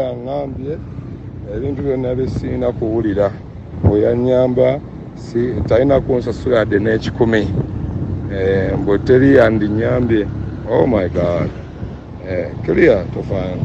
yaŋŋambye ebintu byonna bye sirina kuwulira bwe yannyamba si talina kunsasula yadde n'ekikumi eh, mbwe teri yandinnyambye oh my god eh, clear tofaana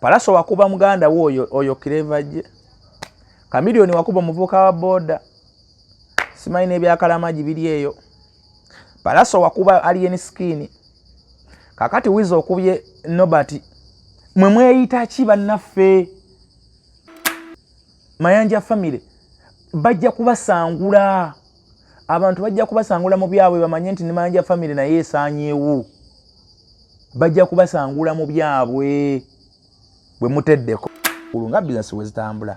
Palaso wakuba muganda wo oyo oyo kireva je. Kamilioni wakuba omuvuka wa boda. Simanyi ne byakalamaji bili eyo. Palaso wakuba alien skin. Kakati wizo okubye nobati. Mwe mweyita ki bannaffe? Mayanja family bajja kubasangula. abantu bajja kubasangula mu byabwe bamanye nti nemanja famiry naye esanyewo bajja kubasangula mu byabwe bwe muteddeko ulu nga bizinesi wezitambula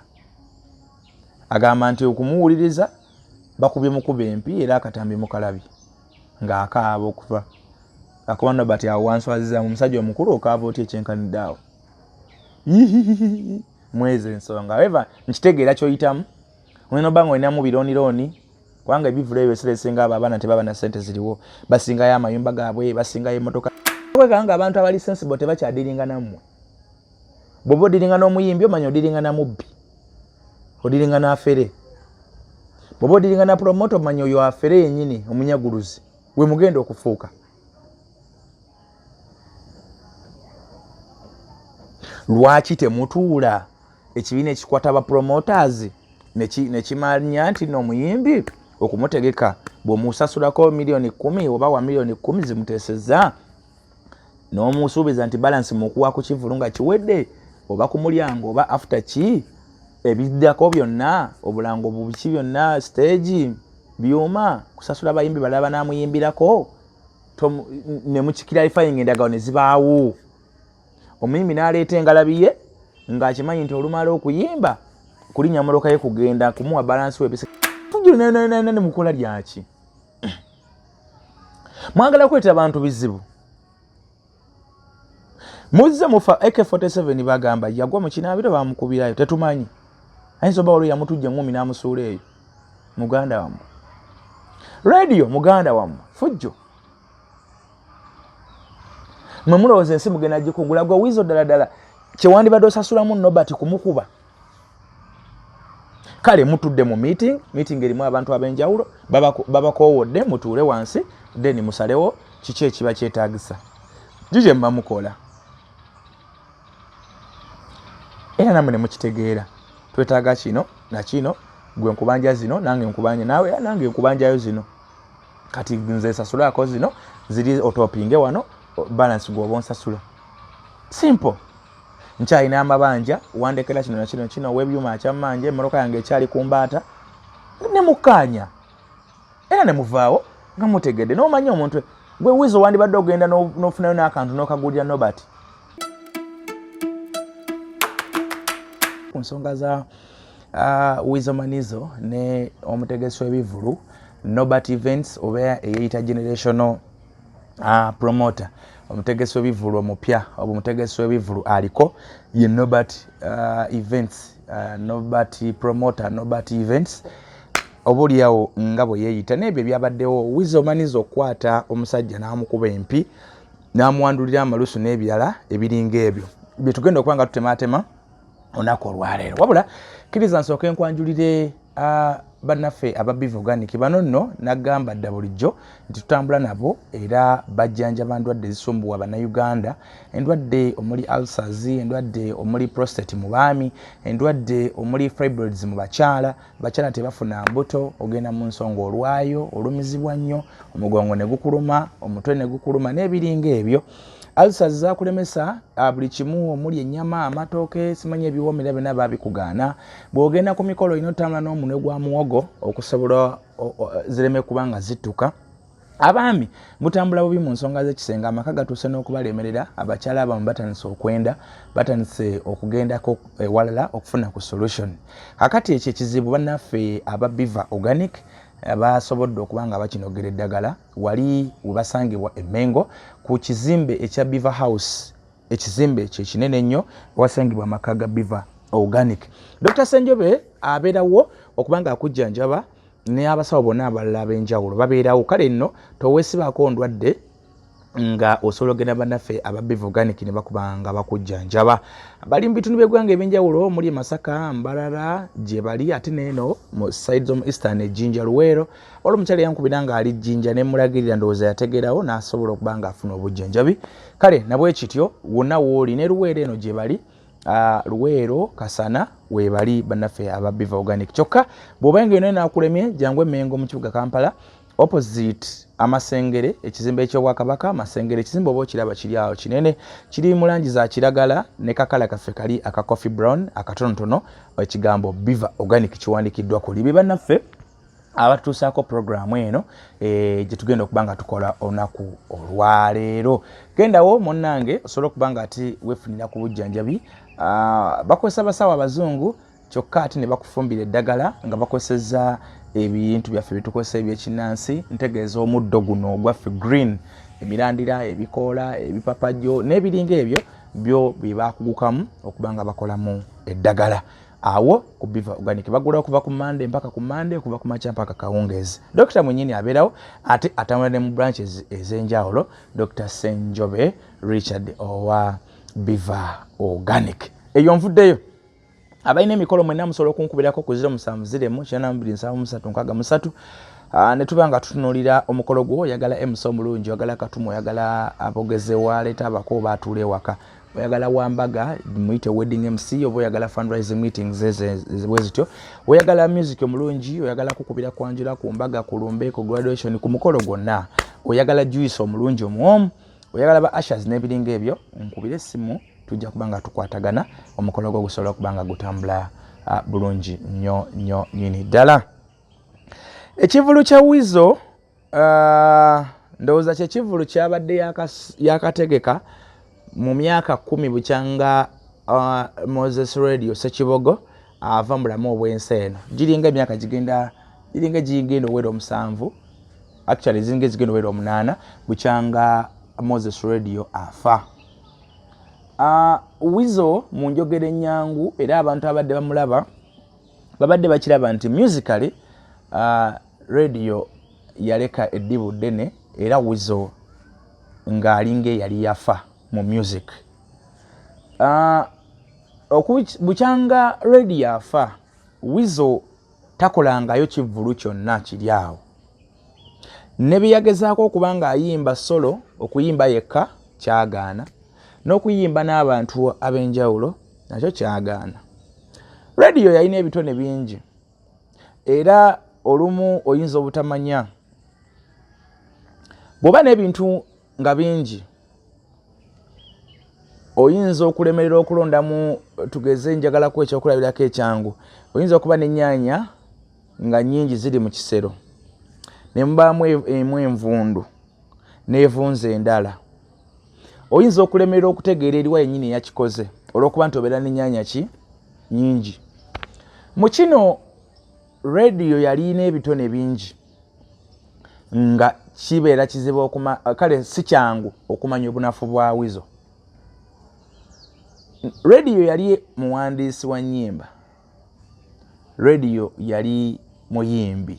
agamba nti okumuwuliriza bakubye mukuba empi era akatambi mukalabi ng'akaaba okuva akuba nobati awo wanswaziza mu musajja omukulu okaava otya ekyenkanidde awo mwezi ensonga eva nkitegeera kyoyitamu olina obanga olinamu biroonirooni kubanga ebivulu ebyo ebiseera ebisinga abo abaana tebaba na ssente ziriwo basingayo amayumba gaabwe basingayo emmotoka kwekanga nga abantu abali sensible tebakyadiringa nammwe bwoba odiringa n'omuyimbi omanya odiringa na mubbi odiringa n'afere bwoba odiringa na promoto omanya oyo afere yennyini omunyaguluzi we mugenda okufuuka lwaki temutuula ekibiina ekikwata ba promoters nekimanya nti no omuyimbi okumutegeka bwemusasulako miliyoni kumi oba wa miliyoni kumi zimuteseza nomusuubiza nti balansi mukuwa ku kivulu nga kiwedde oba ku mulyango oba after ki ebiddako byonna obulango bubiki byonna stage byuma kusasula bayimbi balala banamuyimbirako nemukikiralifayinga endagawo nezibaawo omuyimbi n'aleeta engalabi ye ng'akimanyi nti olumala okuyimba kulinya mmotoka ye kugenda kumuwa balansi webisajulnananani mukola lyaki mwagala kweta abantu bizibu muzze mufa ak47 bagamba yagwa mu kinaabiro bamukubirayo tetumanyi ayinza oba waliwo yamutujja eŋumi n'amusuula eyo muganda wammwe radio muganda wammwe fujjo mwe mulowooza ensi mugenda gikugula gwe wiizo ddala ddala kyewandibadde osasulamu nobert kumukuba kale mutudde mu meeting meeting erimu abantu ab'enjawulo babakoowodde mutuule wansi then musalewo kiki ekiba kyetaagisa jije muba mukola era namwe ne mukitegeera twetaaga kino nakino gwe nkubanja zino nange nkubanja nawe nange nkubanjayo zino kati nze sasulako zino ziri otopinge wano balance gwoba onsasula simple nkyalina amabanja wandekera kino nakino kino webyuma akyamanje emmotoka yange ekyali ku mbaata ne mukkaanya era ne muvaawo nga mutegedde n'omanya omuntu gwe wizo wandibadde ogenda n'ofunayo n'akantu n'okagulira nobert ku nsonga za uh, wizo manizo ne omutegesi w'ebivulu Norbert Events oba eyeyita generational uh, promoter omutegesi webivulu omupya oba omutegesi webivulu aliko ye Norbert uh, Events uh, Norbert promoter Norbert Events obuliawo nga bwe yeyita nebyo byabaddewo wiza omaniza okukwata omusajja namukuba empi namwandulira amalusu n'ebirala ebiringa ebyo byetugenda okuba nga tutematema onaku olwaleero wabula kiriza nsooka enkwanjulire Ah, bannaffe aba biva organic bano nno nagamba dda bulijjo nti tutambula nabo era bajjanjaba ndwadde ezisumbuwa bannayuganda endwadde omuli ulcers endwadde omuli prostate mu baami endwadde omuli fibroids mu bakyala bakyala tebafuna mbuto ogenda mu nsonga olwayo olumizibwa nnyo omugongo ne gukuluma omutwe ne gukuluma n'ebiringa ebyo alsa zakulemesa ah, buli kimu omuli enyama amatooke simanya ebiwomera byona babikugaana bwogenda ku mikolo olina otambula n'omunwe gwa muwogo okusobola zireme kuba nga zittuka abaami mutambula bubi mu nsonga z'ekisenga amaka gatuuse n'okubalemerera abakyala abamu batandise okwenda batandise okugendako ewalala okufuna ku solution kakati ekyo ekizibu bannaffe ababiva organic basobodde okuba nga bakinogera eddagala wali webasangibwa emengo ku kizimbe ekya beaver house ekizimbe ekyo ekinene ennyo wasangibwa amaka ga beaver organic dr senjobe abeerawo okuba nga akujjanjaba neabasawo bonna abalala ab'enjawulo babeerawo kale nno towesibaako ndwadde nga osobola ogenda banaffe aba bivoganic ne bakuba nga bakujjanjaba bali mu bitundu by'eggwanga ebyenjawulo omuli e masaka mbarara gye bali ate neeno mu side z'omu eastern ejjinja luweero waliwo omukyala yankubira nga ali jjinja ne mulagirira ndowooza yategeerawo n'asobola okuba nga afuna obujjanjabi kale nabwe kityo wonna wooli ne luweero eno gye bali ah, luweero kasana weebali bannaffe aba biva organic kyokka bw'oba nga yona enakulemye jangu emengo mu kibuga kampala opposite amasengere ekizimbe ekyobwakabaka amasengere ekizimbe oba okiraba kiri awo kinene kiri mu langi za kiragala ne kakala kaffe kali aka coffee brown akatonotono ekigambo biva organic kiwandikiddwa kuli bye bannaffe abatutuusaako puroguraamu eno eh, gye tugenda okuba nga tukola olunaku olwaleero gendawo munnange osobola okuba nga ati wefunira ku bujjanjabi ah, bakozesa basawo abazungu kyokka ate ne bakufumbira eddagala nga bakozeseza ebintu byaffe byetukozesa ebyekinnansi ntegeeza omuddo guno ogwaffe green emirandira ebikoola ebipapajjo n'ebiringa ebyo byo bye bakugukamu okuba nga bakolamu eddagala awo ku biva organic bagula okuva ku mande mpaka ku mande okuva ku makya mpaka kawungeezi dokita mwenyini abeerawo ate atambula ne mu branch ez'enjawulo dr senjobe richard owa biva organic eyo nvuddeyo abalina emikolo mwena musobola okunkubirako ku 07072363 ah, ne tuba nga tutunulira omukolo gwo oyagala emusa omulungi oyagala katuma oyagala abogeze waleeta abako oba atuula ewaka oyagala wambaga muyite wedding mc oba oyagala fundraising meetings ezibwe zityo oyagala music omulungi oyagala kukubira kwanjula ku mbaga ku lumbe ku graduation ku mukolo gwonna oyagala juice omulungi omuwomu oyagala ba ashers n'ebiringa ebyo nkubire essimu tujja kuba nga tukwatagana omukolo gwo gusobola okuba nga gutambula ah, bulungi nyo nyo nyini ddala ekivulu kya wizo Uh, ndowooza kyekivulu kyabadde yakategeka yaka mu myaka kumi bukyanga uh, moses radio sekibogo ava uh, mubulamu obwensi eno giringa emyaka gigenda giringa gigenda owera omusanvu actually ziringa ezigenda owera omunaana bukyanga moses radio afa uh, wizo mu njogera enyangu era abantu abadde bamulaba babadde bakiraba nti musically uh, radio yaleka eddibu ddene era wizo ng'alinga eyali yafa mu music uh, bukyanga radio afa wizo takolangayo kivvulu kyonna kiri awo ne bye yagezaako okuba ng'ayimba solo okuyimba yekka kyagaana n'okuyimba n'abantu ab'enjawulo nakyo kyagaana rediyo yalina ebitone bingi era olumu oyinza obutamanya bw'oba n'ebintu nga bingi oyinza okulemerera okulondamu tugeze njagalaku ekyokulabirako ekyangu oyinza okuba n'ennyanya nga nnyingi ziri mu kisero ne mubaamu e-, emu envundu n'evunza endala oyinza okulemerera okutegeera eriwa yennyini eyakikoze olw'okuba nti obeera n'ennyanya ki nyingi mu kino rediyo yalina ebitone bingi nga kibeera kizibu okuma kale si kyangu okumanya obunafu bwa wizo rediyo yali muwandiisi wa nnyimba rediyo yali muyimbi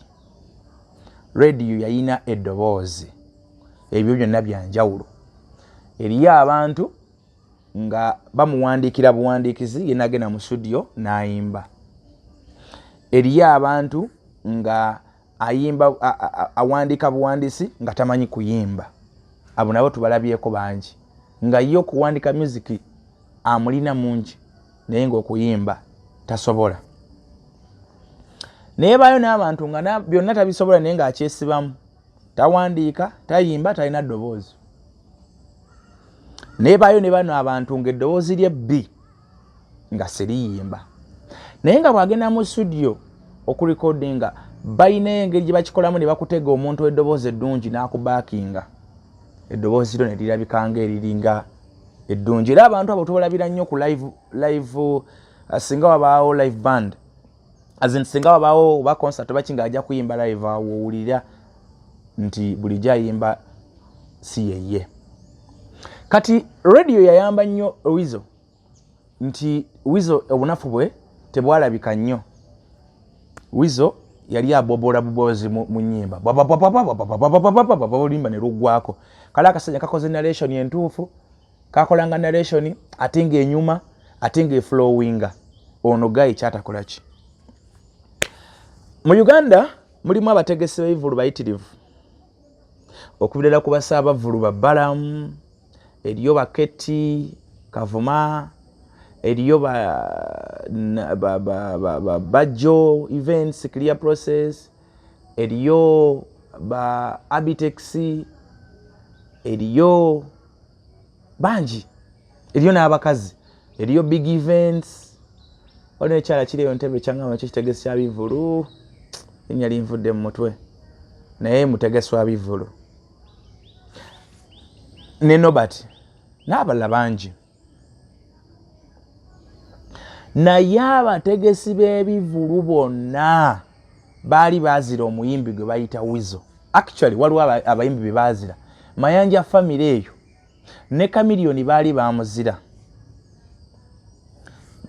rediyo yalina eddoboozi ebyo byonna byanjawulo eriyo abantu nga bamuwandiikira buwandiikizi yenagenda mu studio nayimba eriyo abantu nga ayimba awandiika buwandiisi nga tamanyi kuyimba abo nabo tubalabyeko bangi nga ye okuwandika musiki amulina mungi naye ngaokuyimba tasobola naye baayo n'abantu nga byonna tabisobola naye ngaakyesibamu tawandiika tayimba talina ddoboozi naye baayo ne bano abantu ngaeddoboozi lye bbi nga siriyimba naye nga bwagenda mu studio okurekodinga balina engeri gyebakikolamu ne bakutega omuntu eddoboozi eddungi n'akubakinga eddoboozi lyo ne lirabika nga eriringa eddungi era abantu abo tubalabira nnyo ku live uh, singa wabaawo live band as in singa wabawo oba concert oba kinga ajja kuyimba live awo owulira nti bulijjo ayimba si yeye kati radio yayamba nnyo wizo nti wizo obunafu bwe tebwalabika nnyo wizo yali abobola bubozi mu nyimba olimba ne lugwako kale akasajja kakoze narration entuufu kakolanga narration ate nga enyuma ate nga eflowinga ono gayi kyatakolaki mu uganda mulimu abategesi bebivulu bayitirivu okubirala ku basaabavulu babalamu eriyo baketi kavuma eriyo bajjo events clear process eriyo ba abitex eriyo bangi eriyo n'abakazi eriyo big events waliwo ekyala kiri eyo ntebe kyangamba ekyo kitegesi kya bivulu enya linvudde mu mutwe naye mutegesi wa bivulu ne nobert n'abalala bangi naye abategesi b'ebivulu bonna baali baazira omuyimbi gwe bayita wizo actually waliwo abayimbi be baazira mayanja famire eyo ne kamiliyoni baali bamuzira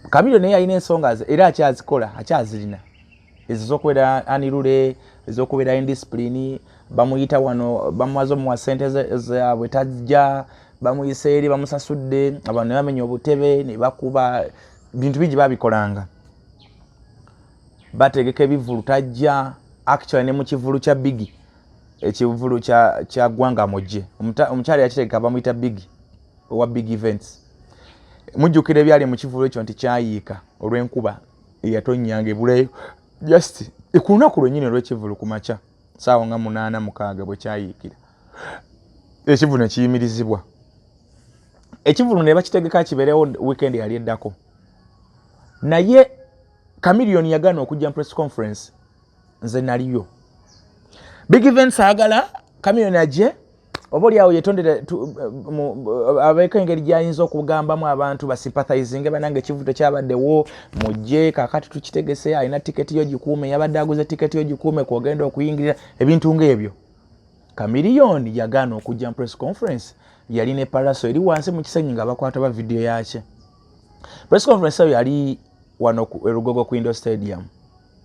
kamiliyoni naye yalina ensonga ze era akyazikola akyazirina ezo zokubeera anirule ezokubeera indiscipline bamuyita wano bamuwaza omuwa sente zabwe tajja bamuyisa eri bamusasudde abantu nebamenya obutebe nebakuba bintu bingi babikolanga bategeka ebivulu tajja actually ne mu kivulu kya bigi ekivulu kya gwanga mujje omukyala yakitegeka bamuyita bigi owa big events mujjukira ebyali mu kivulu ekyo nti kyayiika olw'enkuba eyatonyanga ebuleyo just ku lunaku lwenyini olw'ekivulu ku makya saawa nga munaana mukaaga bwe kyayiikira ekivulu ne kiyimirizibwa ekivulu ne bakitegeka kibeerewo wiikendi yali eddako naye Chameleon yagana okujja press conference nze naliyo. Big events agala Chameleon aje obo lyawo yetondera eh, eh, abeka engeri gyayinza okugambamu abantu basympathizing banange ekivuto kyabaddewo mujje kakati tukitegese alina tiketi yo gikuume yabadde aguze tiketi yo gikuume kwogenda okuyingirira ebintu ngaebyo kamiliyoni yagaana okujja mu press conference yali ne palaso eri wansi mu kisenyi nga bakwata ba vidiyo yakye press conference eyo yali wano ku erugogo ku indo stadium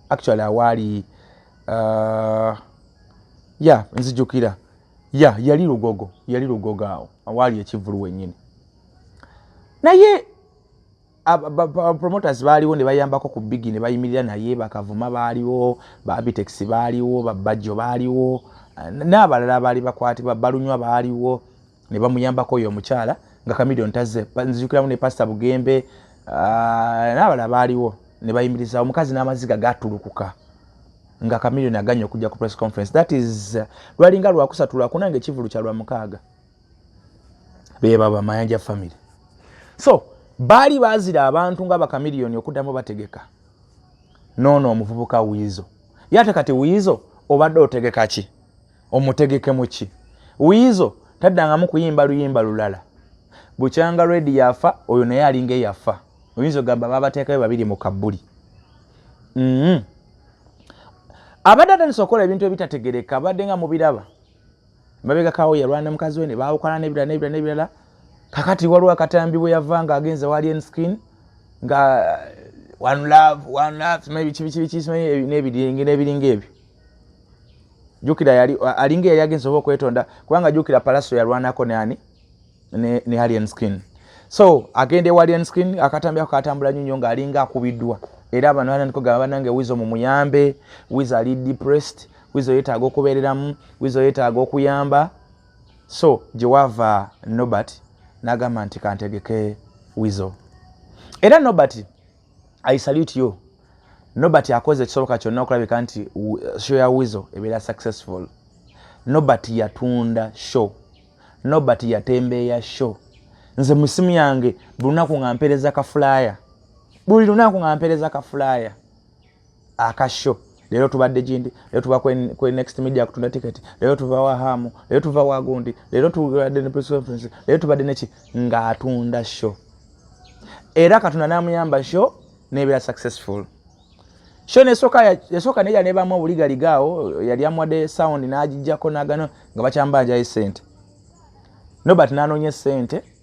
actually awaali uh, ya nzijukira ya yali lugogo yali lugogo awo awaali ekivulu wenyini naye promoters baaliwo ne bayambako ku bigi ne bayimirira naye bakavuma baaliwo babitex baaliwo babajjo baaliwo n'abalala abaali bakwatibwa balunywa baaliwo ne bamuyambako oyo omukyala nga kamilion tazze nzijukiramu ne pasita bugembe ah, n'abala baaliwo ne bayimiriza omukazi n'amaziga gatulukuka nga kamilion aganye okujja ku press conference that is lwalinga lwakusatu lwakuna nga ekivulu kya lwamukaaga bebaba mayanja family so baali baazira abantu nga bakamiliyoni okuddamu bategeka noono omuvubuka wiizo ye ate kati wiizo obadde otegeka ki omutegeke muki wiizo taddangamu kuyimba luyimba lulala bukyanga redi yafa oyo naye alinga eyafa oyinza ogamba babateekayo babiri mu kabbuli mm-hmm. abadde atandisa okukola ebintu ebitategereka abadde nga mubiraba mabegakawo yalwana ne mukazi we ne baawukana nebirala nebirala nebirala kakati waliwo akatambi bwe yava nga agenze wali enskin nga one love one love simanyi biki biki biki simanyi nebiringa ebyo jukira yali alinga yali agenze oba okwetonda kubanga jukira palaso yalwanako neani ne, ne alien skin so agenda ewa alien skin akatambi ako katambula nyo nyo nga alinga akubiddwa era abantu bananiko gaba banange wizo mumuyambe wizo ali depressed wizo yetaaga okubeereramu wizo yetaaga okuyamba so gyewava nobert nagamba nti kantegeke wizo era nobert i salute you nobert akoze ekisoboka kyonna okulabika nti show ya wizo ebeera successful nobert yatunda show nobert yatembeeya show nze musimu yange buli lunaku nga mpereza kafulaya buli lunaku nga mpereza kafulaya akasho leero tubadde gindi leero tuba kwe next media kutunda ticket leero tuva wa hamu leero tuva wa gundi leero tubadde ne press conference leero tubadde neki ng'atunda show era katonda n'amuyamba show nebeera successful sho nesoka yasoka neja ne bamu obuliga ligaawo yali amwade sound n'agijjako n'agano nga bakyambanja esente nobert n'anoonya esente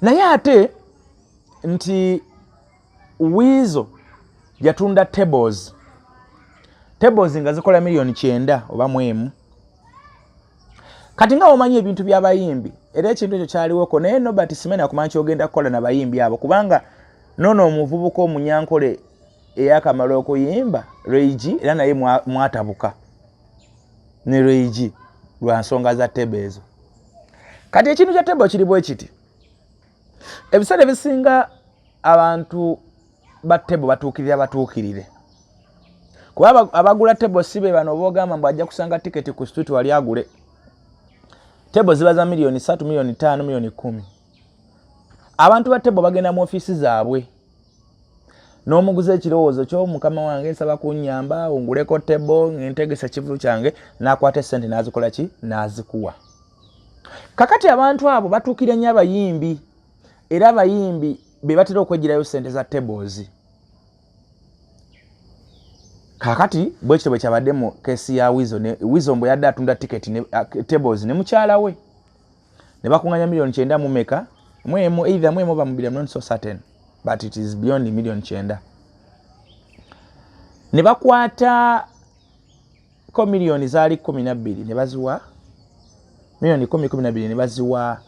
naye ate nti wiizo yatunda tables tables nga zikola miliyoni kyenda oba mwemu kati nga omanyi ebintu byabayimbi era ekintu ekyo kyaliwoko naye nobert simena kumanya kyogenda kukola nabayimbi abo kubanga nono omuvubuka omunyankole eyakamala okuyimba reigi era naye mwatabuka ne reigi lwa nsonga za tebe ezo kati ekintu kya table kiri bwekiti ebiseera ebisinga abantu ba table batuukirira batuukirire kuba abagula table si be bano obaogamba mbu ajja kusanga tiketi ku street wali agule table ziba za miliyoni satu miliyoni taano miliyoni kumi abantu ba tebo bagenda mu ofiisi zaabwe n'omuguza ekirowoozo kyo mukama wange nsaba kunyamba onguleko tebo ngentegesa ekivulu kyange n'akwata esente n'azikola ki n'azikuwa kakati abantu abo batuukira nnyo abayimbi era abayimbi be batera okwegirayo sente za tables kakati bwekityo bwe kyabadde mu kesi ya wizo wizo mbwe yadde atunda tiketi uh, tables ne mukyala we ne bakunganya million kyenda mu meka mwemu either mwemu bamubira not so certain but it is beyond million kyenda ne bakwata ko million zali 12 ne baziwa million 10 12 ne baziwa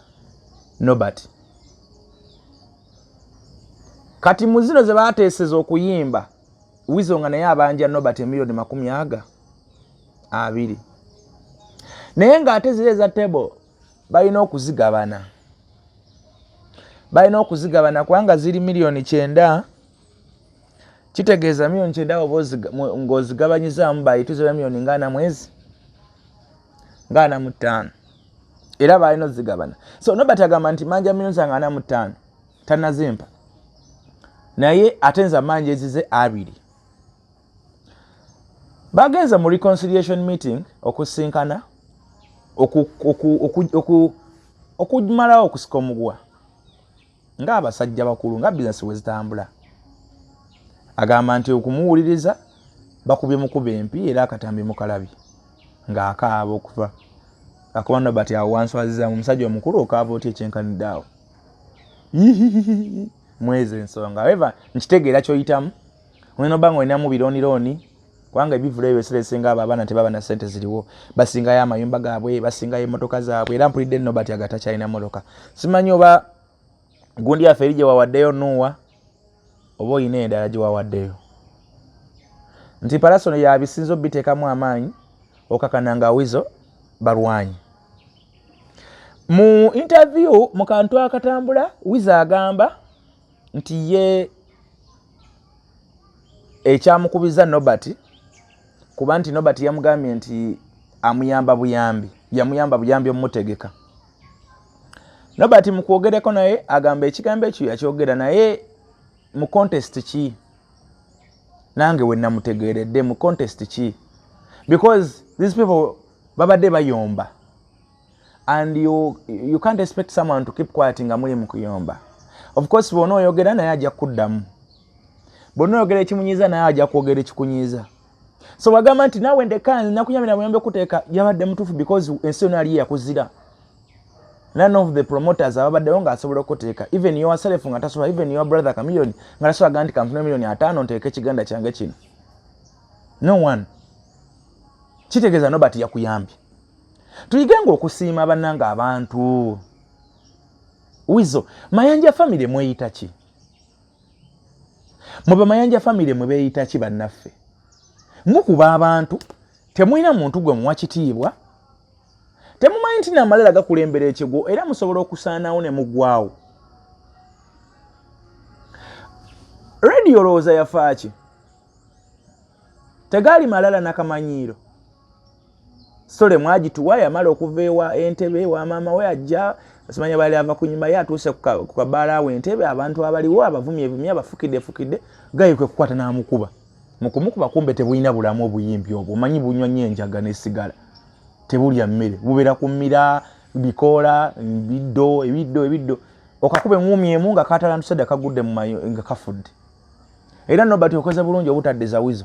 Nobert kati muzino ze bateseza okuyimba wizo nga naye abanja nobat emiliyoni makumi aga abiri naye ngaate ziri eza table balina okuzigabana balina okuzigabana kubanga ziri miliyoni kyenda kitegeeza miliyoni kyenda ngaozigabanyizaamu bayituzira miliyoni ngaana mwezi ngaana mu ttaano era balina ozigabana so nobat agamba nti manja miliyoni za ngaana mu ttaano tanazimpa naye ate nze amaanyi ezize abiri bagenze mu reconciliation meeting okusinkana okumalawo okusika omuguwa ngaabasajja bakulu nga bizinesi wezitambula agamba nti okumuwuliriza bakubye mukuba empi era akatambi mukalabi ngaakaaba okuva akuba nobati awo wanswazizamu omusajja omukulu okaaba otya ekyenkanidde awo mwezo ensonga eva nkitegeera kyoyitamu olina oba nga olinamu biroonirooni kubanga ebivulu ebyo ebiseera esinga abo abaana tebaba na sente ziriwo basingayo amayumba gaabwe basingayo emotoka zaabwe era mpulidde nobati agatakyalina motoka simanyi oba gundi yaffe eri gyewawaddeyo nuuwa oba olina endala gye wawaddeyo nti palasono yabisinza obiteekamu amaanyi okakana nga wizo balwanyi mu interview mu kantu akatambula wizo agamba nti ye ekyamukubiza nobert kuba nti nobert yamugambye nti amuyamba buyambi yamuyamba buyambi omutegeka nobert mukwogereko naye agamba ekigambo ekyo yakyogera naye mu contest ki nange wenamutegeredde mu contest ki because these people babadde bayomba and you, you can't expect someone to keep quiet nga muli mukuyomba of course bona oyogera naye ajja kuddamu bona oyogera ekimunyiza naye ajja kwogera ekikunyiza so wagamba nti nawe ndeka nakuyambira muyambe kuteeka yabadde mutuufu because ensi yona yali yakuzira none of the promoters ababaddewo nga asobola okuteeka even your self nga tasobola even your brother kamilion nga tasobola ga nti kampuni milioni ataano nteeka ekiganda kyange kino no one kitegeeza nobati yakuyambye tuyige nga okusiima bannanga abantu wizo mayanja famire mweyita ki mwe bamayanja famire mwe beeyita ki bannaffe mukuba abantu temulina muntu gwe muwa kitiibwa temumanyi nti namalala gakulembera ekigwo era musobola okusaanawo ne mugwawo rediyo olowooza yafaaki tegaali malala nakamanyiiro sole mwagituwa yamala okuva ewa entebe ewa maama we ajja simanya bali ava kunyuma ye atuuse ku kabaala awo entebe abantu abaliwo abavumye evumye abafukidde efukidde gayi kwe kukwata n'amukuba mu kumukuba kumbe tebulina bulamu obuyimbi obwo omanyi bunywa nyo enjaga n'essigala tebulya mmere bubeera ku mmira bikoola biddo ebiddo ebiddo okakuba eŋumi emu nga katalantusedde kagudde mumayo nga kafudde era nobati okoze bulungi obutadde zawizo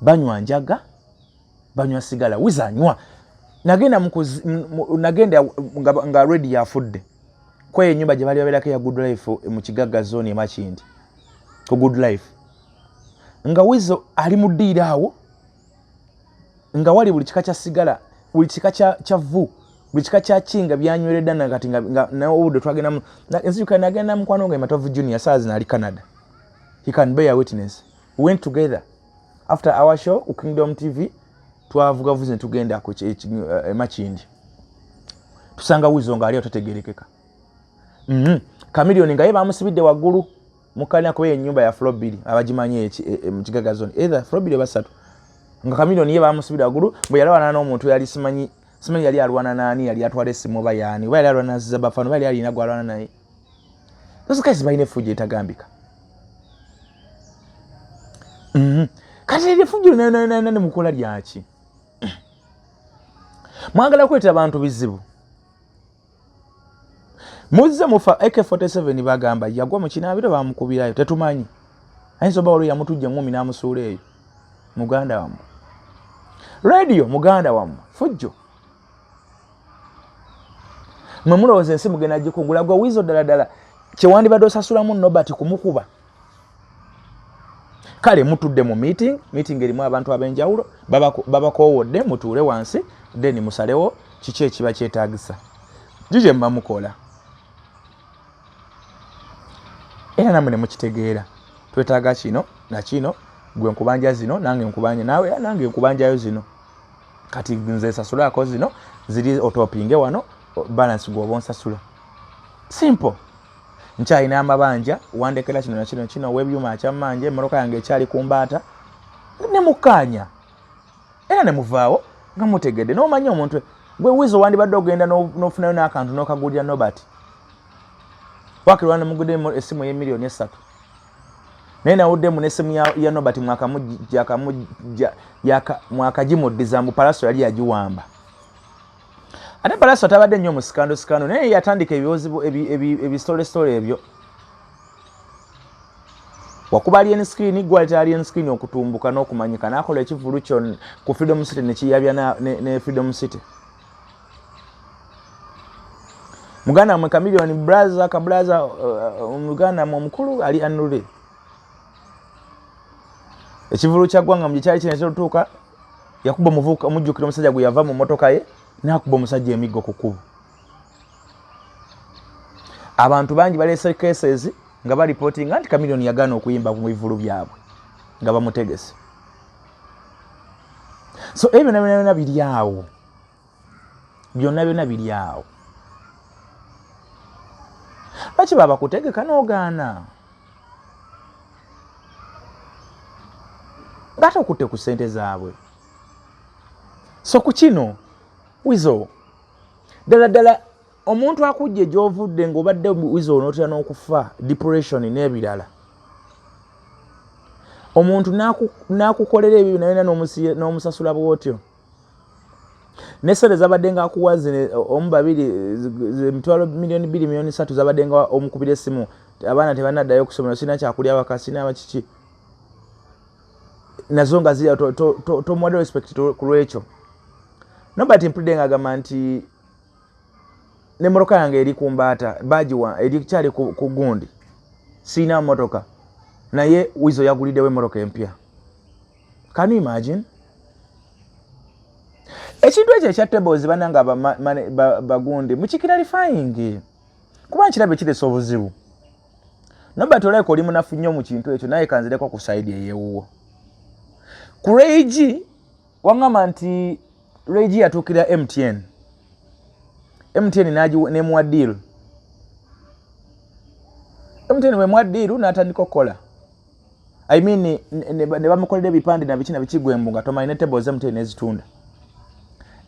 banywa njaga banywa sigala wizanywa nagenda mukuzi nagenda nga, nga redi yafudde kweyo enyumba gye bali babeerako eya good life eh, mu kigagga zone emakindi ku good life nga wizo ali mu ddiiro awo nga wali buli kika kya sigala buli kika kya, kya vu buli kika kya kinga byanyweredda nakati naobudde twagendamu nzijuka nagenda mukwano nga ematovu junior saazi naali canada he can bear witness went together after our show ku kingdom tv twavuga vuze tugenda ku emakindi eh, tusanga wizo nga aliyo tategerekeka mhm kamilioni nga ye bamusibidde waggulu mukalina kuba enyumba ya flobili abagimanyi eh, eh, mu kigaga zone either flobili basatu nga kamilioni ye bamusibidde waggulu bwe yalawana n'omuntu yali simanyi simanyi yali alwana nani yali atwala esimu oba yaani oba yali alwana zizabafano oba yali alina gwalwana naye those guys balina efujjo etagambika mhm. kati eryo efujjo nananana ne mukola lyaki mwagala kuleeta bantu bizibu muzze mufa ak47 bagamba yagwa mu kinaabiro bamukubirayo tetumanyi ayinza oba waliwo yamutujja ngumi n'amusuula eyo muganda wamu radio muganda wamu fujjo mwe mulowooza ensi mugenda gikugula gwe wiizo ddala ddala kyewandibadde osasulamu nobert kumukuba kale mutudde mu meeting meeting erimu abantu ab'enjawulo babakoowodde mutuule wansi then musalewo kiki ekiba kyetagisa jije muba mukola era namwe ne mukitegeera twetaaga kino nakino gwe nkubanja zino nange nkubanja naawe era nange nkubanjayo zino kati nze sasulako zino ziri otopinge wano balance gwoba onsasula simple nkyalina amabanja wandekera kino nakino kino webyuma akyamanje emmotoka yange ekyali ku mbaata ne mukkaanya era ne muvaawo nga mutegedde n'omanya omuntu gwe wizo wandibadde ogenda n'ofunayo n'akantu n'okagulira nobert wakirwana mugudde essimu y'emiliyoni essatu naye nawuddemu nesimu ya, ya nobert mwakagimuddiza mbu palaso yali yagiwamba ate palaso tabadde nnyo mu sikando sikando naye yatandika ebiwozibu ebistolestole ebyo wakuba alien screen gwaleta alien screen okutumbuka n'okumanyika nakola ekivulu kyo ku freedom city nekiyabya ne, ne freedom city muganda mwe kamilioni braza kabraza uh, uh, muganda mwe omukulu ali anule ekivulu kya gwanga mu gikyali kino kyotuuka yakuba omuvuka omujjukira omusajja gwe yava mu motoka ye nakuba omusajja emiggo ku kkubo abantu bangi baleese cases nga balipotinga nti kamilioni yagaana okuyimba mu bivulu byabwe nga bamutegese so ebyo nabyona byona biri awo byonna byonna biri awo lwaki babakutegeka n'ogaana ngate okutte ku ssente zaabwe so ku kino wizo ddala ddala omuntu akujje gyovudde ngaobadde wizo onotera n'okufa depression n'ebirala omuntu n'akukolera ebyo byona byona n'omusasula bwotyo nesente zabadde nga akuwa omu babiri emitwalo miliyoni bbiri miliyoni satu zabadde nga omukubira esimu abaana tebanaddayo okusomera sirina kyakulya waka sirina bakiki nazo nga zirya tomuwadde respect ku lwekyo nobert mpulidde nga agamba nti ne motoka yange eri ku mbaata bagiwa erikyali ku gundi sirina motoka naye wizo yaguliddewo emotoka empya can you imagine ekintu ekyo ekya tables bananga bagundi mukikira lifayingi kuba nkirabye kiresa obuzibu nobert olabika oli munafu nnyo mu kintu ekyo naye kanzireko ku saidi eyewuwo ku regi wangamba nti regi yatuukira mtn mtn nemuwa deal mtn wemuwa deal natandika okukola I mean ne bamukolera ebipande na bikina bikigwembu nga tomanyi ne table zemu tene zitunda.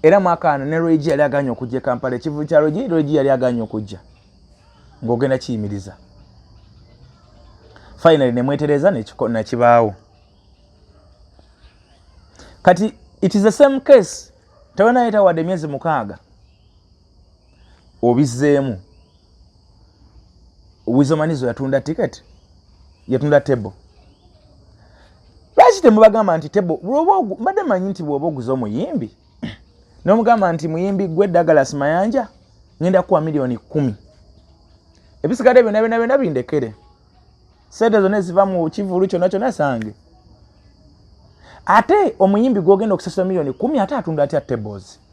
Era mwaka ano ne Roji yali aganye okujja Kampala ekivu kya Roji Roji yali aganye okujja. Ngogenda kiyimiriza. Finally ne mwetereza ne kiko na kibaawo. Kati it is the same case. Tawena yeta wade miezi mukaga. obizeemu wizomanizo yatunda ticket yatunda table lwaki temubagamba nti table mbadde manyi nti bwoba oguza omuyimbi nomugamba nti muyimbi gwe dagalas mayanja ngenda kuwa miliyoni kumi ebisigadde byona byona byona bindekere sente zona eziva mu kivulu kyona kyona sange ate omuyimbi gwogenda okusasula miliyoni kumi ate atunda atya tables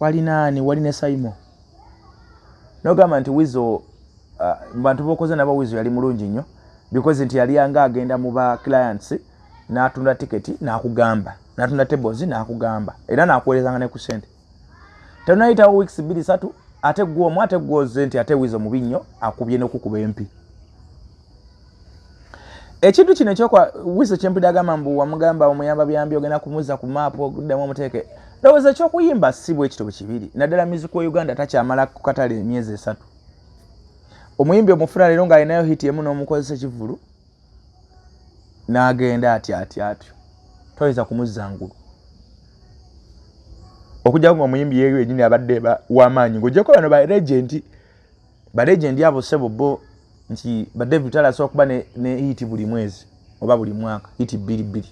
wali naani wali ne saimo nogamba nti wizo uh, bantu bokoze nabo wizo yali mulungi nnyo because nti yali anga agenda mu ba clients natunda tiketi nakugamba natunda tables nakugamba era nakuwerezanga ne ku sente tenayitawo weeks bbiri satu ate gwe omu ate gwoze nti ate wizo mubi nnyo akubye nokukuba empi ekintu kino ekyokwa wiso kyempulira agamba mbu wamugamba omuyamba byambi ogenda kumuzza ku maapu okuddamu omuteeke ndowooza ekyokuyimba si bwe kityo kibiri naddala miziku wa uganda takyamala ku katale emyezi esatu omuyimbi omufuna leero ng'alinayo hiti emu n'omukozesa ekivulu n'agenda ati ati atyo toyinza kumuzza ngulu okujjako nga omuyimbi yeyo yenyini abadde wamaanyi ng'ogyeko bano ba regenti ba legend abo sebo bo nti ba David Tala so kuba ne, ne hit buli mwezi oba buli mwaka hit bili bili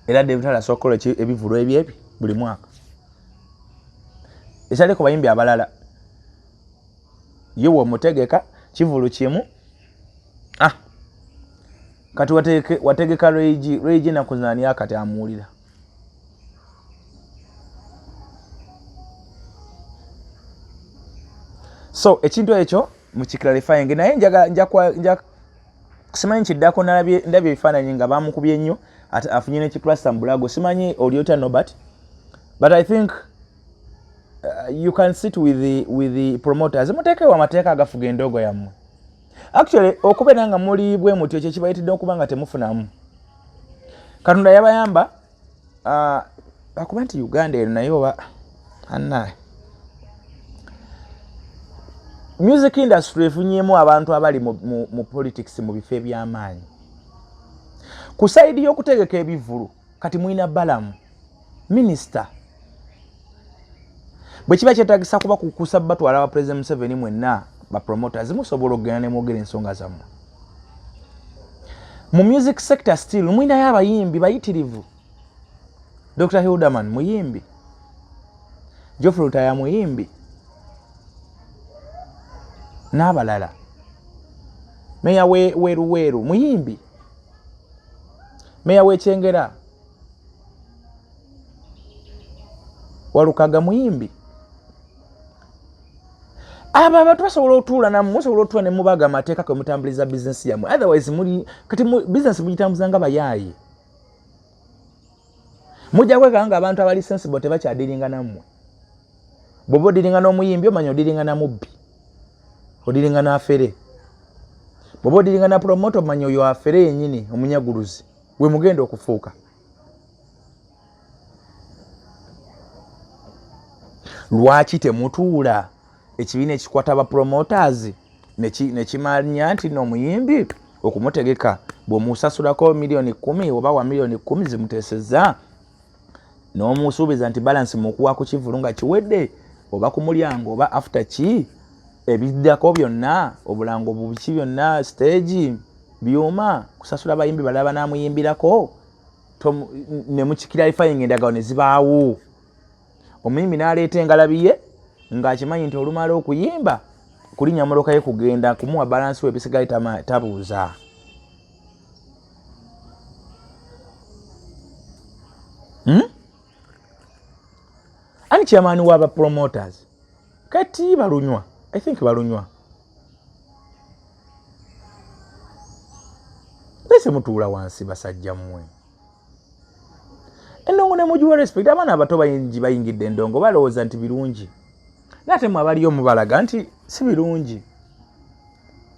era David Tala so kola ki ebivulu ebyebi buli mwaka esale ko bayimbi abalala yewo mutegeka kivulu kimu ah kati wateke wategeka reji reji na kuzania kati amulira so ekintu ekyo mukiclarifyinge naye simanyi kiddako ndabye ebifaananyi nga bamukubye nnyo afunye nekiplasta mubulago simanyi olyotya nobert but i think uh, you can sit with the, with the promoters muteekewo amateeka agafuga endoogo yammwe actually okubeera nga muli bwe muti ekyo kibayitidde okuba nga temufunamu katonda yabayamba akuba ah, nti uganda eno naye oba annaye music industry efunyemu abantu abali mu, mu, mu politics mu bifo ebyamaanyi ku saidi y'okutegeka ebivulu kati mulina balamu minisita bwe kiba kyetagisa kuba kukusa batwala ba president museveni mwenna ba promoters musobola okugenda ne mwogera ensonga zammwe mu music sector still mwinayo abayimbi bayitirivu dr hilderman muyimbi geoffrey lutaya muyimbi n'abalala meya weruweru muyimbi meya wekyengera walukaga muyimbi abo abantu basobola otuula namu musobola otuula nemubaga amateeka kwemutambuliza bizinesi yamwe otherwise muli kati bizinesi mugitambuza nga bayaaye mujja kwekanga nga abantu abali sensible tebakyadiringa nammwe bwoba odiringa n'omuyimbi omanya odiringa na mubbi odiringa n'afere bwoba odiringa na promota omanya oyo afere yenyini omunyaguluzi we mugenda okufuuka lwaki temutuula ekibiina ekikwata ba promoters nekimanya nti nomuyimbi okumutegeka bwemusasulako miliyoni kumi oba wa miliyoni kumi zimuteseza n'omusuubiza nti balansi mukuwa ku kivulu nga kiwedde oba ku mulyango oba after ki ebiddako byonna obulango bubiki byonna siteegi byuma kusasula bayimbi balala banaamuyimbirako ne mukikiralifayinga endagawo ne zibaawo omuyimbi n'aleeta engalabi ye ng'akimanyi nti olumala okuyimba kulinya mmotoka ye kugenda kumuwa balansi we ebisigali tabuuza hmm? ani chairman wa ba promoters kati balunywa i think balunywa ese mutuula wansi basajja mmwe endongo ne mugiwa respect abaana abato bayingi bayingidde endongo balowooza nti birungi naye ate mwe abaliyo mubalaga nti si birungi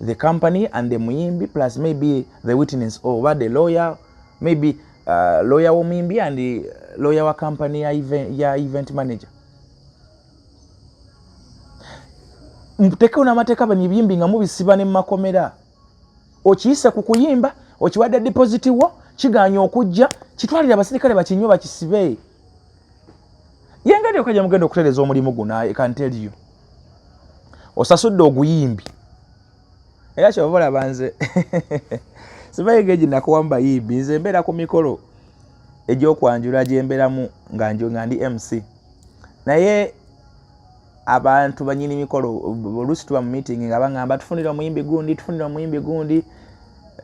the company and the muyimbi plus maybe the witness or oba the lawyer maybe uh, lawyer womuyimbi and uh, lawyer wa company ya event, ya event manager mutekewo namateeka bano ebiyimbi nga mubisiba ne mumakomera okiyise ku kuyimba okiwadde deposit wo kiganya okujja kitwalire abasirikale bakinywa bakisibe yengeri yoka gyemugenda okutereza omulimu guno i can tell you osasudde oguyimbi era kyova olaba nze sibayega egi nakuwa mu bayimbi nze embeera ku mikolo egyokwanjula gyemberamu nga ndi mc naye abantu banyini mikolo oluusi tuba mu meeting nga baŋamba tufunire omuyimbi gundi tufunire omuyimbi gundi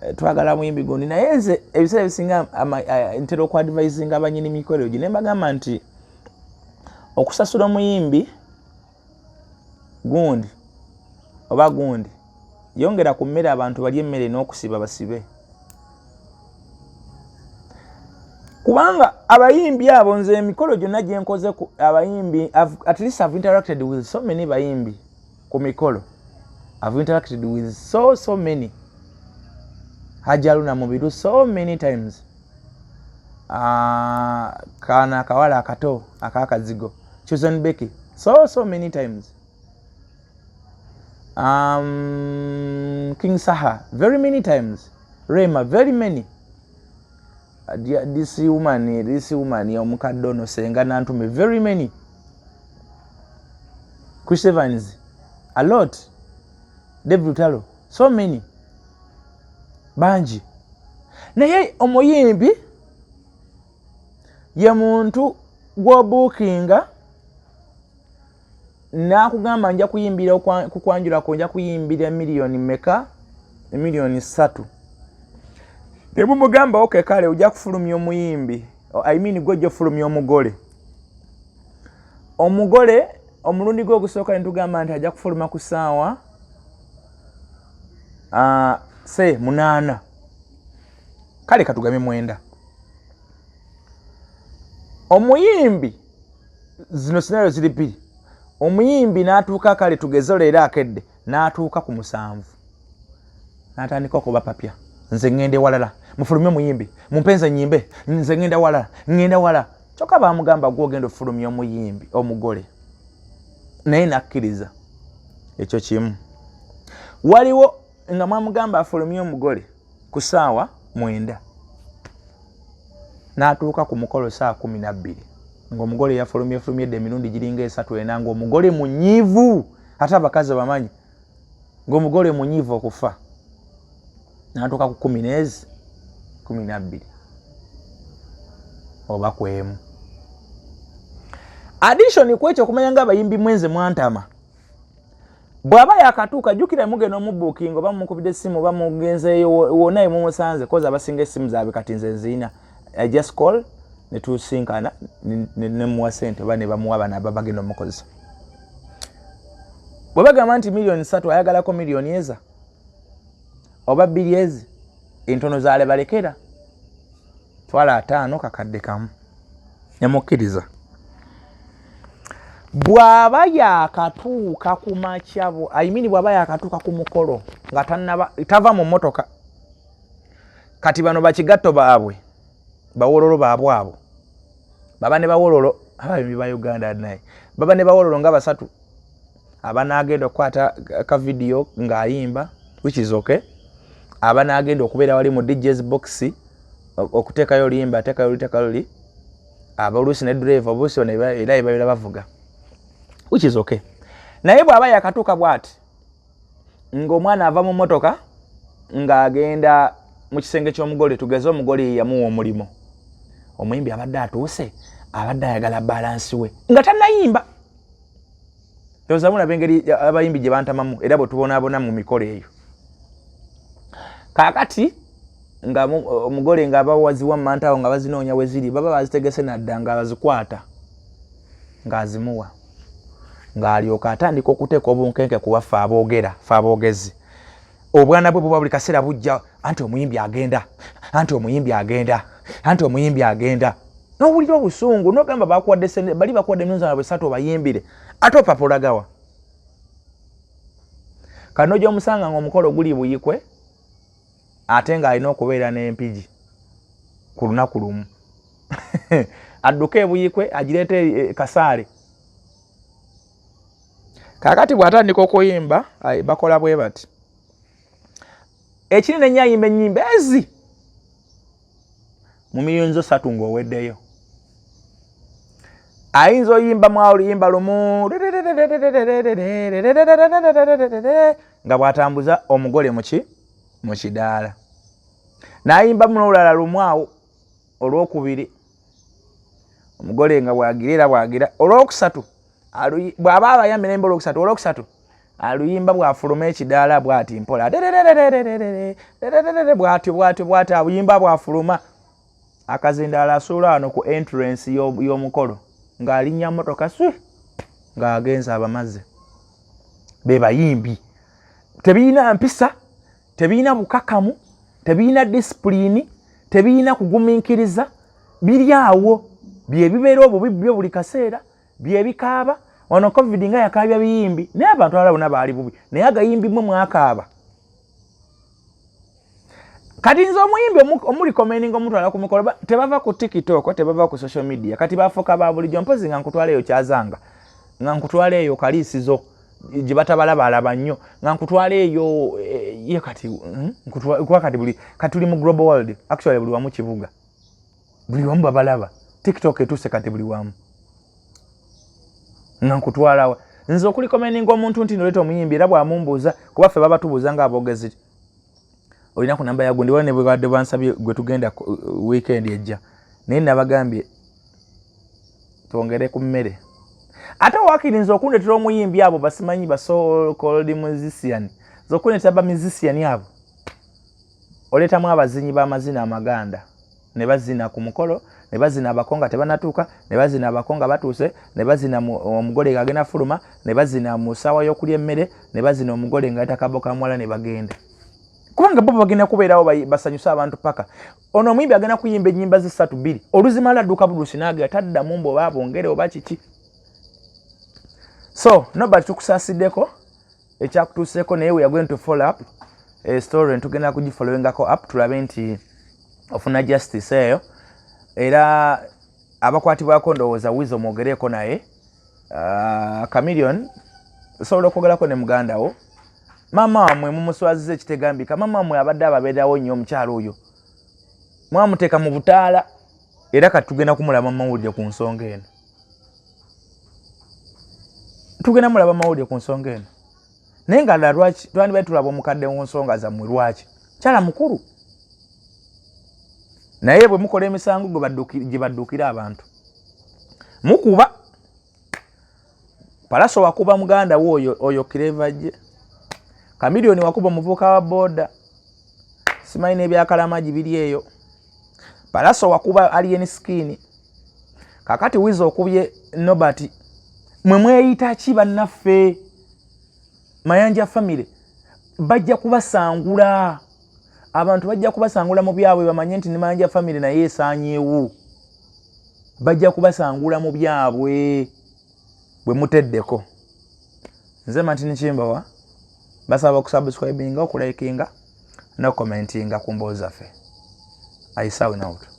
eh, twagala muyimbi gundi naye nze ebiseera ebisinga eh, ntera okuadvisinga banyini mikolo egyo nembagamba nti okusasula omuyimbi gundi oba gundi yongera ku mmere abantu balye emmere n'okusiba basibe kubanga abayimbi abo nze emikolo gyonna gye nkoze ku abayimbi at least have interacted with so many bayimbi ku mikolo have interacted with so so many hajaluna mubiru so many times uh, kana akawala akato akakazigo chosen becky so so many times um, king saha very many times rema very many this woman this woman omukadde ono senga nantume very many chris evans a lot david utalo so many bangi naye omuyimbi ye muntu gwobuukinga nakugamba nja kuyimbira kukwanjulako nja kuyimbira miliyoni meka emiliyoni satu nebumugamba oke kale oja kufulumya omuyimbi i mean gwe ojafulumya omugole omugole omulundi gwe ogusooka netugamba nti aja kufuluma ku saawa uh, se munaana kale katugame mwenda omuyimbi zino sinayo ziri bbiri omuyimbi n'atuuka kale tugeze leero akedde n'atuuka ku musanvu n'atandika okuba papya nze ŋŋenda ewalala mufulume omuyimbi mumpenze nyimbe nze ŋŋenda walala ŋŋenda wala kyokka baamugamba gwe ogenda ofulumya omuyimbi omugole naye nakkiriza ekyo kimu waliwo nga mwamugamba afulumye omugole ku saawa mwenda n'atuuka ku mukolo saa kumi nabbiri ng'omugole yafulumyefulumye dda emirundi giringa esatu ena ng'omugole munyiivu ate abakazi bamanyi ng'omugole munyiivu okufa n'atuuka ku kumi neezi kumi nabbiri oba kwemu addition kwekyo okumanya nga abayimbi mwenze mwantama bwaba yakatuuka jukira mugenda omubukinga oba mumukubidde essimu oba mugenzeeyo wona emumusanze kozi abasinga essimu zaabwe kati nze nziina i just call netusinkana nemuwa sente oba nebamuwa bana aba bagenda omukozesa bwe bagamba nti miliyoni satu ayagalako miliyoni eza oba bbiri ezi entono zalebalekera twala ataano kakadde kamu nemukkiriza bw'aba yakatuuka ku makyabo ayimini bw'aba yakatuuka ku mukolo nga tanaba tava mu mmotoka kati bano bakigatto baabwe bawololo baabwe abo baba ne bawololo abayimbi ba uganda naye baba ne bawololo nga basatu aba nagenda okukwata ka vidiyo ng'ayimba which is okay aba nagenda okubeera wali mu djs box okuteekayo oluyimba ateekayo olutekayo luli aba oluusi ne drive obuusi ono era ebabeera bavuga which is okay naye bw'aba yakatuuka bw'ati ng'omwana ava mu mmotoka ng'agenda mu kisenge ky'omugole tugeze omugole yeyamuwa omulimu omuyimbi abadde atuuse abadde ayagala balansi we nga tanayimba ndowoza mulaba engeri abayimbi gye bantamamu era bwetubonaabona mu mikolo eyo kakati nga omugole nga abawaziwa mumantawo nga bazinoonya weziri baba bazitegese nadda nga azikwata ng'azimuwa ng'alyoka atandika okuteeka obunkenke ku baffe aboogera fe aboogezi obwana bwe buba buli kaseera bujja anti omuyimbi agenda anti omuyimbi agenda anti omuyimbi agenda nowulira obusungu nogamba bakuwadde sente bali bakuwadde nonzana bwesatu obayimbire ate opapulagawa kano gyomusanga nga omukolo guli buyikwe ate ng'alina okubeera n'empigi ku lunaku lumu adduke ebuyikwe agireeta e, e, kasaale kakati bwatandika okuyimba bakola bwe bati ekiri nenye ayimba enyimba ezi mu miyinzo satu ngaoweddeyo ayinza oyimba mwaluyimba lumu nga bwatambuza omugole muki mu kidaala nayimba munolulala lumu awo olwokubiri omugole nga bwagira era bwagira olwokusatu bwaba abaya mirembe olwokusatu olwokusatu aluyimba bwafuluma ekidaala bwati mpola bwatyo bwatyo bwatyo abuyimba bwafuluma akazindaala asuula wano ku entrance y'omukolo ng'alinnya motoka swi ng'agenza abamaze be bayimbi tebirina mpisa tebirina bukakamu tebirina disipulini tebirina kugumiikiriza biri awo byebibeera obubi byo buli kaseera byebikaaba wano covid nga yakaabya biyimbi naye abantu abala bona baali bubi naye agayimbi mwe mwakaaba kati nze omuyimbi omulikomendinga omutwala ku mikolo tebava ku tikitoko tebava ku social media kati bafuuka ba bulijjo mpozi nga nkutwala eyo kyazanga nga nkutwala eyo kaliisizo gye batabala balaba nnyo nga nkutwala eyo eh, ye kati hmm? kuba kati buli kati tuli mu global world actually buli wamu kibuga buli wamu babalaba tiktok etuuse kati buli wamu nga nkutwalawa nze okulikomeninga omuntu nti noleeta omuyimbi era bwamumbuuza kuba ffe baba tubuuza nga abogezi olina ku namba yagundi wala nebwebadde bansabye gwe tugenda uh, weekend ejja naye nabagambye twongere ku mmere ate wakirinza okundetera omuyimbi abo basimanyi basold musician zokundetera ba musician abo oleetamu abazinyi b'amazina amaganda ne bazina ku mukolo ne bazina abako nga tebanatuuka ne bazina abako nga batuuse ne bazina omugole nga agenda fuluma ne bazina mu ssaawa y'okulya emmere ne bazina omugole nga yata kabo ka muwala ne bagenda kubanga bo bagenda kubeerawo basanyuse abantu paka ono omuyimbi agenda kuyimba ennyimba ze ssatu bbiri oluzimala adduka bulusi naagera taddamu mbu oba bongere oba kiki so nobert tukusaasiddeko ekyakutuuseeko naye weyagwento follow up eh, story ntugenda kugifolowingako up tulabe nti ofuna justice eyo era abakwatibwako ndowooza wiza omwogereeko naye ah, camilion osobola okwogerako ne muganda wo maama wamwe mumuswaziza ekitegambika maama wamwe abadde ababeerawo nnyo omukyalo oyo mwamuteeka mu butaala era kati tugenda kumulaba mumawulire ku nsonga eno tugenda mulaba mawulire ku nsonga eno naye nga la lwaki twandibadde tulaba omukadde mu nsonga zammwe lwaki kyala mukulu naye bwe mukola emisango gye baddukira abantu mukuba palaso wakuba muganda wo oyo oyo kireva gye kamiliyoni wakuba omuvuuka wa booda simanyi n'ebyakalamagi biri eyo palaso wakuba alien skin kakati wiza okubye nobert mwe mweyita ki bannaffe mayanja famire bajja kubasangula abantu bajja kubasangula mu byabwe bamanye nti ne mayanja famire naye esanyewo bajja kubasangula mu byabwe bwe muteddeko nze matini kimbawa basaba okusubscribinga okulikinga nokomentinga ku mboozi zaffe i sound out